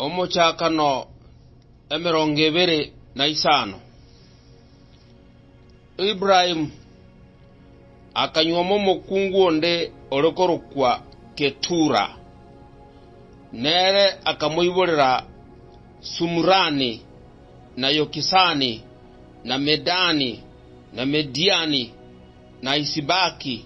Omochakano emerongo ebere na isano. Ibrahim akanyuoma omokungu onde ore korokwa Ketura, nere akamoiborera Sumurani, na Yokisani, na Medani, na Mediani, na Isibaki,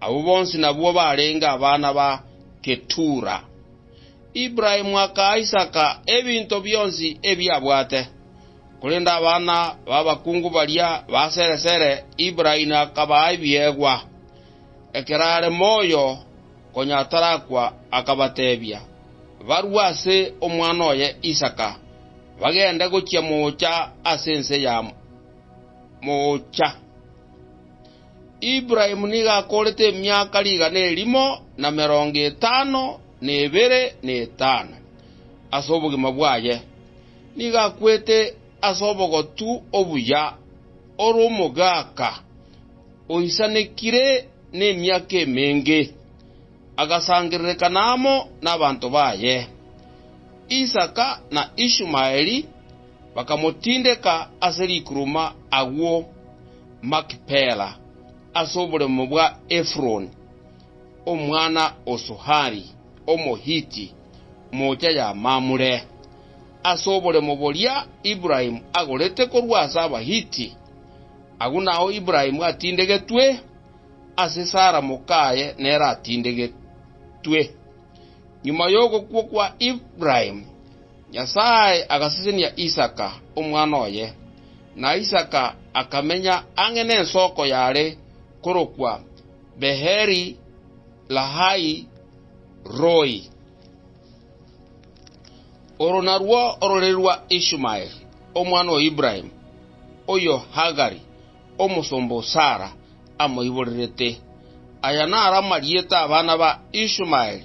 Abwo bonsi nabwo barenge abana ba Ketura. Ibrahimu akaa Isaka ebinto bionsi ebi abwate. Korende abana b'abakungu baria ba sere sere Ibrahimu akabaa ebiegwa. Ekero are moyo, konya atarakwa, akabateebia, barue ase omwana oye Isaka, bagende gochia moocha ase ense ya moocha. Ibrahimu nigo akoorete emiaka rigana erimo na merongo etano na ebere na etano ase obogima bwaye. Nigo akwete ase obogotu obuya ore omogaaka oisanekire nemiaka emenge, agasangererekana amo nabanto baye. Isaka na Ishumaeli bakamotindeka ase rikuruma agwo. Makipela, ase oboremo bwa Efuroni, omwana o Sohari, Omohiti, moocha ya Mamure. Ase oboremo boria Ibrahimu agorete korwa ase Abahiti, agwo nao Ibrahimu atindegetwe, ase Sara mokaye nere atindegetwe. Nyuma y'ogokwa kwa Ibrahimu, Nyasae agasesenia Isaka, omwana oye, na Isaka akamenya ang'e nensoko yare korokwa Beheri-lahai-roi. Oro narwo ororeri rwa Ishumaeli, omwana o Ibrahimu, oyo Hagari, omosomba o Sara, amoiborerete. Aya naro amarieta 'abana ba Ishumaeli.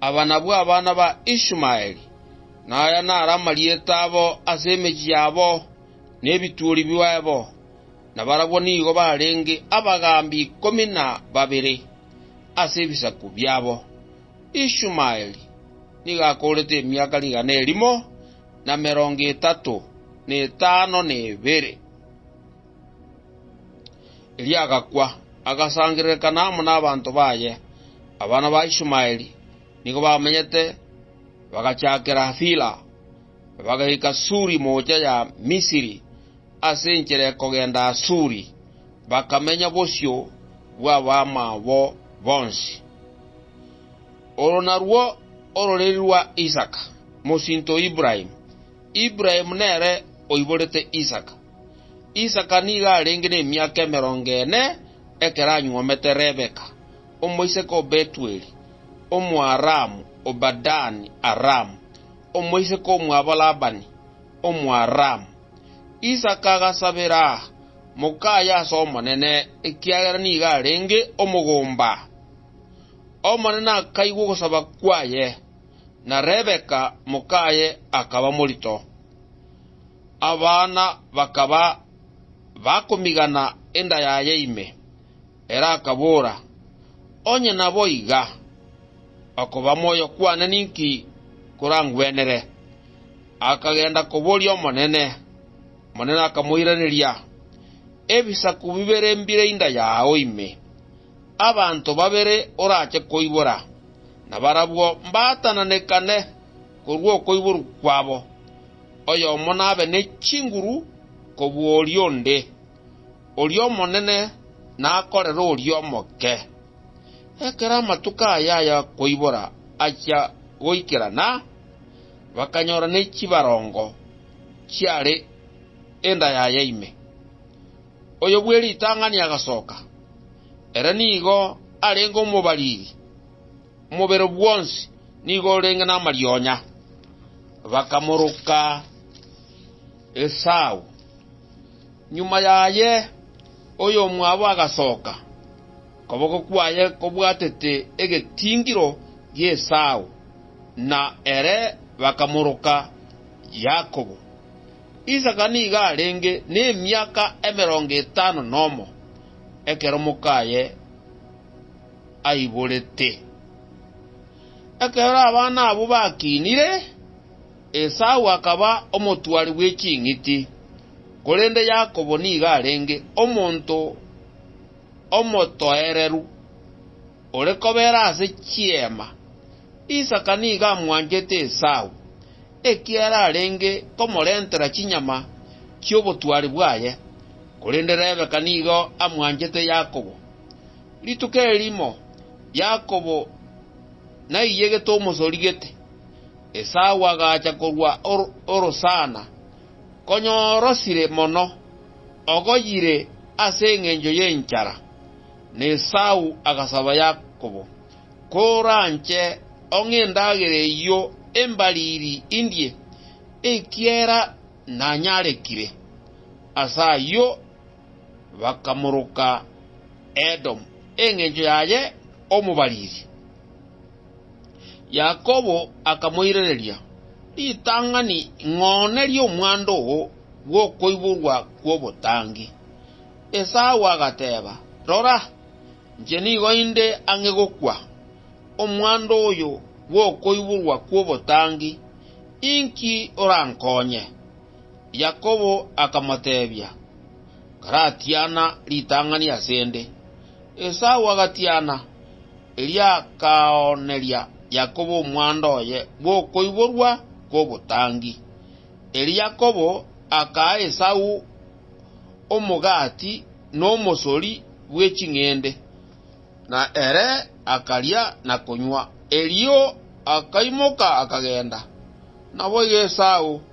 Aba nabwo abana ba Ishumaeli, na aya naro amarieta abo ase emechie yabo nebituori biaebo, na barabwo nigo barenge abagaambi ikomi na babere ase ebisaku biabo. Ishumaeli nigo akoorete emiaka rigana erimo na merongo etato na etano na ebere. Erio agakwa, agasangererekana amo nabanto baye. Abana ba Ishumaeli nigo bamenyete bagachakera Havila, bagaika Suri moocha ya Misiri, ase enchera ekogenda Asuri, bakamenya bosio bw'abamwabo bonsi. Oro narwo ororeri rwa Isaka, mosinto o Ibrahimu. Ibrahimu nere oiborete Isaka. Isaka nigo arenge nemiaka emerongo ene ekero anyuomete Rebeka, omoiseke o Betueli, Omoaramu, o Padani-Aramu, omoiseke omwabo Labani, Omoaramu. Isaka agasabera mokaye ase Omonene, ekiagera nigo arenge omogomba. Omonene akaigwa ogosaba kwaye, na Rebeka mokaye akaba morito. Abana bakaba bakomigana enda yaye ime. Ere akabora, Onye naboiga, okoba moyo kwane ninki korangwenere? Akagenda koboria Omonene, Omonene akamoiraneria, Ebisaku bibere mbire inda yao ime. Abanto babere orache koibora, nabarabwo mbatananekane. korwa okoiborwa kwabo, oyomo nabe ne chinguru kobua oria onde, oria omonene nakorere oria omoke. Ekero amatuko aya ay'okoibora achia goikerana, bakanyora ne chibarongo chiare enda yaye ime. Oyo bwe ritang'ani agasoka, ere nigo arenge omobariri. Omobere bwonsi nigo orenge namarionya. Bakamoroka Esau. Nyuma yaye oyomwabo agasoka, okoboko kwaye kobwatete egetingiro gi'Esau, na ere bakamoroka Yakobo. Isaka nigo arenge nemiaka emerongo etano nomo ekero mokaye aiborete. Ekero abana abwo bakinire, Esau akaba omotwari bwe ching'iti, korende Yakobo nigo arenge omonto omotoereru, ore kobera ase chiema. Isaka nigo amwanchete Esau, ekiagera arenge komorentera chinyama chi'obotwari bwaye, korende Rebeka nigo amwanchete Yakobo. Rituko erimo Yakobo naiyegete omosori gete, Esau agacha korwa orosana, konya orosire mono, ogoyire ase engencho y'enchara. Na Esau agasaba Yakobo, Koranche ong'e endagera eyio embariri indie, ekiera nanyarekire. Ase ayio bakamoroka Edomu engencho yaye omobariri. Yakobo akamoirereria, Ritang'ani ng'one ri'omwando oo bw'okoiborwa kw'obotangi. Esau agateeba, Rora, inche nigo inde ang'e gokwa, omwando oyo bw'okoiborwa kw'obotangi, inki orankonye? Yakobo akamoteebia, Karatiana ritang'ani ase 'nde. Esau agatiana, erio akaooneria Yakobo omwando oye bw'okoiborwa kw'obotangi. Erio Yakobo akaa Esau omogati na omosori bwe ching'ende, na ere akaria na konywa, erio akaimoka akagenda. Naboigo Esau